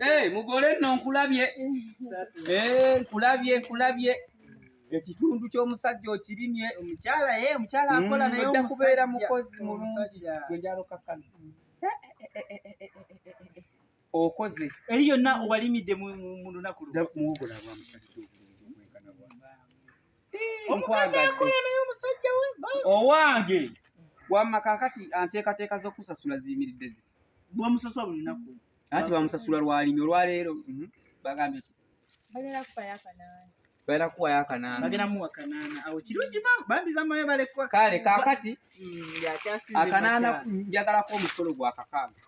Eh, mugole nno nkulabye eh, nkulabye nkulabye ekitundu ky'omusajja okirimye omukyala ye eh, omukyala mm, akola naye ojja kubeera mukozi mulungi gwe njalo kakkana okoze eri yonna obalimidde mu lunaku owange wamma kakati anteekateeka z'okusasula ziyimiridde ziti bwamusasula buli lunaku anti bamusasula lwalimi olwaleero mhm. bagambye ki bagenda kuwayo akanaana bagenda muwa kanaana awo kirungi bambi bamayo balekwa kale kakati mm, akanaana njagalako omusolo gwa kakaaga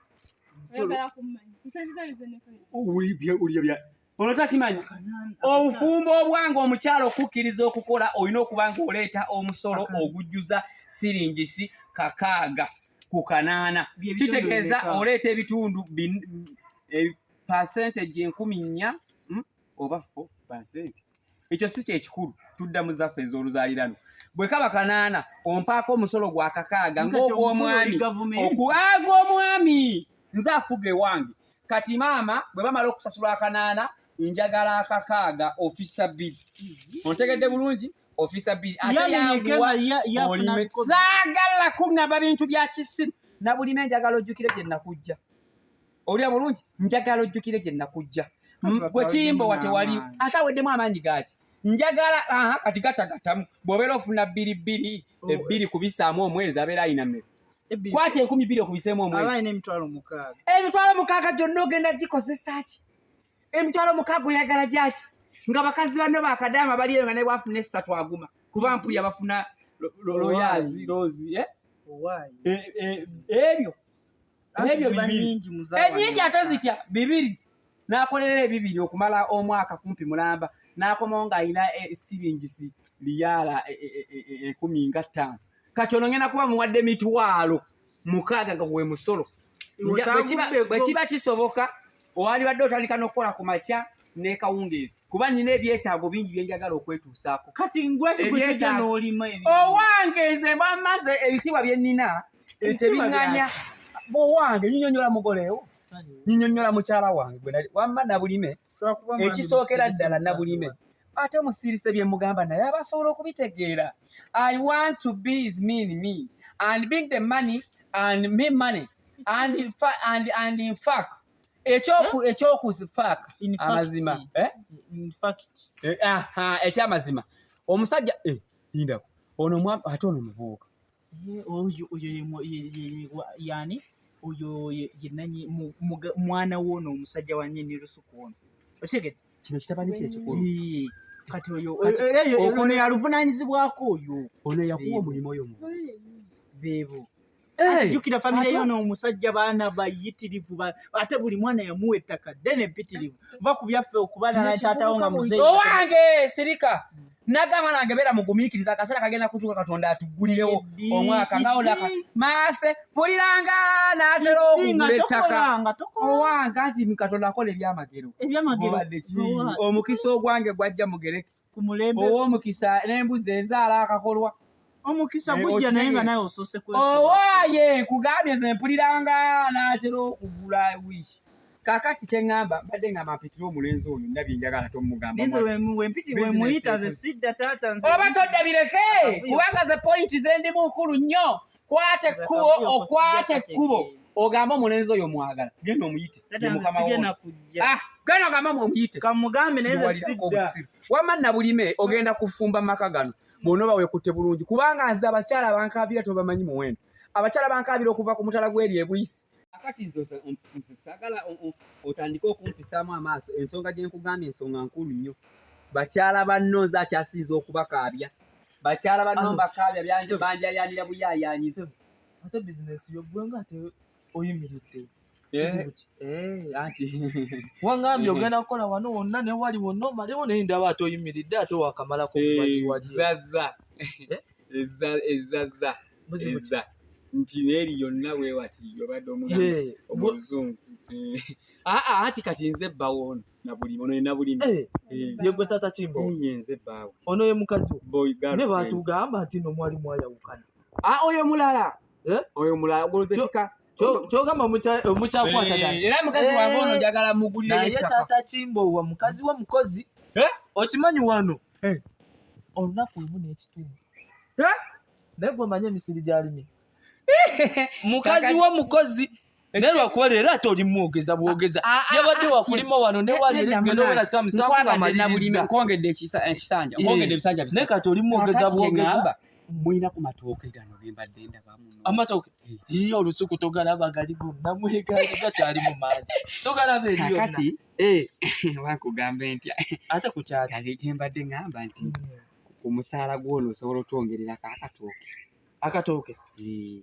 ono takimanyi obufumbo obwange omukyalo okukkiriza okukola olina okuba nga oleeta omusolo ogujjuza siringisi kakaaga ku kanaana kitegeeza oleeta ebitundu eh, percentage enkumi nnya oba fo basente ekyo si kyekikulu tudda mu zaffe ez'oluzaalirano bwe kaba kanaana ompaako omusolo gwa kakaaga ng'ogw'omwami ogw'omwami nze afuga ewange kati maama bwe bamala okusasula akanaana njagala akakaaga ofisa bbiri mhm. ontegedde bulungi ofisa bbiri ateyanguwaolimesaagala kunaba bintu bya kisiru na bulime njagala ojjukire gye nakujja olya bulungi njagala ojjukire gye nakujja gwe kiyimba wa tewali ate aweddemu amaanyi gaaki njagala aha kati gatagatamu bw'obeera ofuna bbiri bbiri oh. ebbiri kubisaamu omwezi abeera ayina mmeka kwata enkumi bbiri okubiseemu omwezi emitwalo mukaaga gyonna ogenda gikozesa ki emitwalo mukaaga oyagala gyaki nga bakazi banno bakadaama bali eyo nga naye bwafuna essatu aguma kuba mpulya bafuna loyazi lozi eh? Eh, eh, ebyo n'ebyo bibiri enyingi ate zitya bibiri n'akolerera ebibiri okumala omwaka kumpi mulamba n'akomawo ng'alina siringisi liyaala enkumi nga ttaano kati ono ngenda kuba muwadde mitwalo mukaaga nga gwe musolo bwe kiba kisoboka owalibadde otandika n'okukola ku makya nekawungeezi kuba nina ebyetaago bingi byenjagala okwetuusaako kati ngwekigwekija n'olima owange nze bwamaze ebitiibwa bye nina Eh, tebinganya owange nyinyonyola mugolewo nyinyonyola mukyala wange wamma nabulime ekisookera ddala nabulime ate omusirise bye mugamba naye aba asobola okubitegeera i want to be is mean me and being the money and me money and in fact, and, and in fact ekyokuzifaaka eh? amazima eh? ekyamazima omusajja indako ono ate ono muvubuka Oyo oyo yani oyo yenanyi mwana wono omusajja wa nyini lusuku ono okitegedde kino kitabani kye kikulu kati oyo ono yaluvunanyizibwako oyo ono yakuwa omulimu oyo mu bebo jukira famire yono omusajja baana bayitirivu ate buli mwana yamuwa ettaka ddene mpitirivu va ku byaffe okubalala kyatawo nga muzeeyi owange sirika nagamba nange beera mugumiikiriza akaseera kagenda kutuuka katonda atuggulirewo omwaka naolaka maase puliranga naatera okugula ettaka owanga nti katonda akola ebyamagero omukisa ogwange gwajja mugere ow'omukisa n'embuzi ezaala akakolwa omukisa Eh, gujja naye nga okitegera. nawe osoose kwe owaaye nkugambye nze mpuliranga naatera okugula wish kakati kyeŋŋamba mbadde ngamba mpitire omulenzi oyo ndabye njagala tomugamba Nze mwana. wemu- wempiti Business wemuyita ze ekoze. sidda taata nze oba todda bireke Akavuyo. kubanga ze pointi zendimu nkulu nnyo kwata ekkubo Akavuyo ko okwata sijja ekkubo kategeera. ogambe omulenzi oyo mwagala genda omuyite taata ye nze mukama sigenda wo kujja Ah, genda ogambe omuyite kamugambe naye nze Siwalirako sidda obusiru. wamma nabulime ogenda kufumba maka gano bwona oba wekutte bulungi kubanga nze abakyala abankaabira tobamanyi muwendo abakyala bankaabira okuva ku mutala gweri ebuyisi akati nze sagala otandike okumpisaamu amaaso ensonga gye nkugambye ensonga nkulu nnyo bakyala banno nze akyasinza okubakaabya bakyala banno mbakaabya byange banjayaanira buyaayaanyiza ate bizinesi yo gwe nga oyimiridde eh, eh, anti wangambye eh. ogenda kukola wano wonna ne wali wonna omalewo naye ndaba ate oyimiridde ate wakamalako mubaziwazaza ezaza eza nti neeri yonna wewati obadde omuzungu aa anti kati nze bbawo ono nabuli ono ye nabulimi eh, eh. yegwe tata kimbo ye nze bbaawo ono ye mukazi ne baatugamba nti no mwali mwayawukana a oyo mulala eh? oyo mulala goloze kika kyogamba omukyakwata eh, era mukazi wange ono njagala mugulire naye taata kimbowa mukazi wa mukozi eh? okimanyi wano olunaku lumu n'ekitundu naye gwe omanye emisiri gyalimi mukazi wa mukozi naye lwakuba leero ate olimu ogeza bwogeza ah, ah, ah, yabadde wakulima wano newalirezigendaowenasamusakubamalirizankongedde ekisanja nkongedde ebisanja naye kati olimu ogeza bwogeza mulina ku matooke gano gembadde ndabamu amatooke eh. iyo olusuku togalaba gali gonna mwegali gakyali mu maanyi togalaba eriyokati eh, wakugambe ntya ate ku kyaki gembadde ngamba nti hmm. ku musaala gwono osobola otwongerera kakatooke akatooke eh.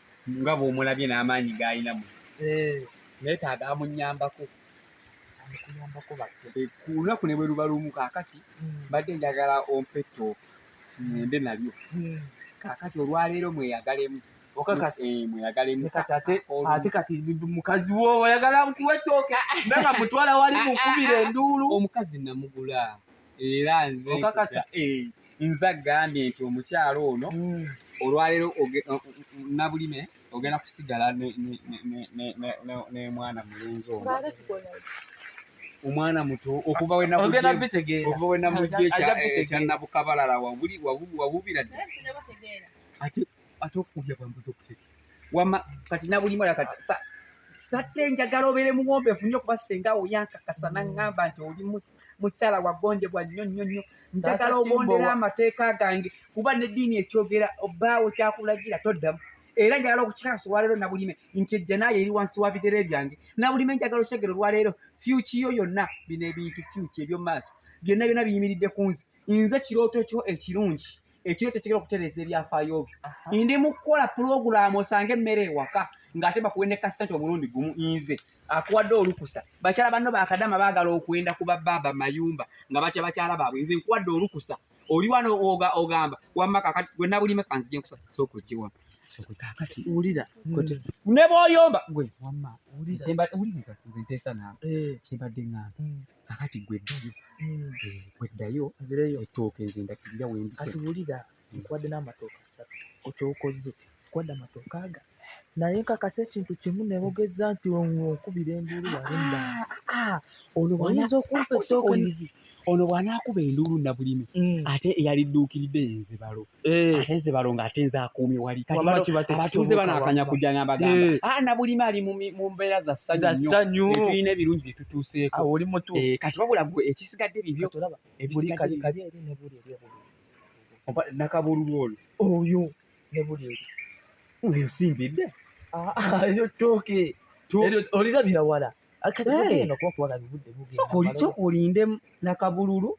nga bw'omulabye n'amaanyi g'alina mu eh. neetaaga amunyambako eh, ku lunaku ne bwe luba lumu kaakati hmm. mbadde njagala ompa ettooke ngende nalyo hmm. kaakati olwaleero mweyagalemu okakasa eh, mweyagalemu kati ate ate kati mukazi wo oyagala nkuwa ettooke nanga mutwala wali mukubira enduulu omukazi namugula era nze okakasa eh, nze agambye nti omukyalo ono hmm. olwaleero nabulime ogenda kusigala nemwana mulunzi ono omwana muto okuva wenamujekyannabukabalala wabubira dde ate ate okukulya bwambuza okuteka wama kati nabulimu ala kati satte njagala obeere muwombeefu nnyo kuba senga oyankakasa naŋŋamba nti oli muto mukyala wagonjebwa nnyo nnyo nnyo njagala ogondera amateeka gange kuba neddiini ekyogera obaawo kyakulagira toddamu era njagala okukikakasa olwaleero nabulime nti ejjanaayo eri wansi wa bigere byange nabulime njagala okyegera olwaleero fyukiyo yonna bino ebintu fyuki ebyomumaaso byonna byonna biyimiridde ku nze nze kirooto kyo ekirungi ekiro tekigenda okutereeza ebyafaayo byo ndi mu kukola pulogulaamu osanga emmere ewaka ng'ate bakuwe ne kasente omulundi gumu nze akuwadde olukusa bakyala banno bakadama baagala okwenda ku babaaba mayumba nga batya bakyala baabwe nze nkuwadde olukusa oli wano ogamba wamma kakati gwe nabulime kanzije nkusa sokukiwa kakati wulira hmm. ne bwoyomba gwe wamma wulira nze nteesa naawe eh. kyembadde ngamba hmm. kakati gwe ddayo hmm. eh, gwe ddayo ettooke nze ndakirira wendi kati wulira nkuwadde n'amatooke asatu okyokoze nkuwadde amatooke aga naye nkakasa ekintu kimu nebogeza nti okubira enduulu walimba ah, ah, oyinza okumpa ettooke ono bw'anaakuba enduulu nabulime hmm. ate eyalidduukiridde yenzibalo Eh. ate nze balonga ate nze akuumye wali abatuuze banakanya kujja nabagamba eh. ah, na bulimi ali mu mbeera za ssanyu tulina ebirungi bye tutuuseeko ah, eh, kati wabula gwe ekisigadde bibyo nakabululu olwo oyo nebuli oyo simbidde ah, eyo tooke olirabira wala kati eno kuba kubaga bibudde bubi soka olinde nakabululu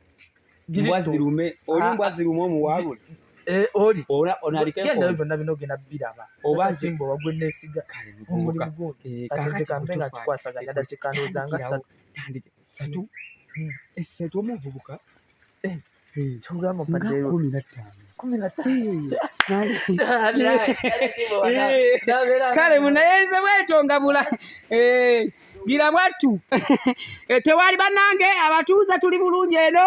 mbwazirume oli ah, mbwazirume omuwabule eh, oli onalikenda byonna bino genda biraba obasimba wagwe nesiga omulimu gundi eh, katekambe nga kikwasaganya dakikanoza nga satu tandike satu hmm. esatu eh, omuvubuka kigamba mpadde kumi na ttaano kale munayerize bwetyo ngabula gira bwattu eh, tewali banange abatuuze tuli bulungi eno